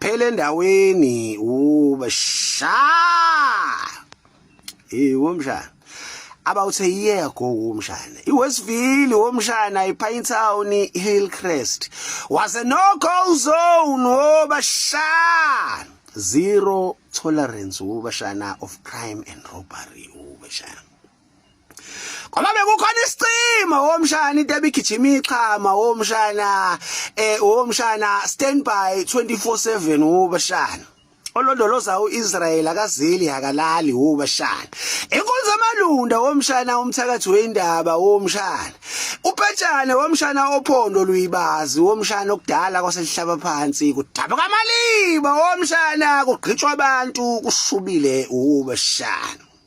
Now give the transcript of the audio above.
phela endaweni uba sha hey womshana about a year ago womshana iwestville womshana ipine town hillcrest was a no go zone woba sha zero tolerance wobashana of crime and robbery wobashana ngoba bekukhona isicima womshana into ebigijima ichama womshana eh womshana standby 24/7 wobashana olondoloza uIsrael akazili akalali wobashana inkonzo amalunda womshana umthakathi weindaba womshana upetshane womshana ophondo luyibazi womshana okudala kwaselihlaba phansi kudabuka amaliba womshana kugqitshwa abantu kushubile wobashana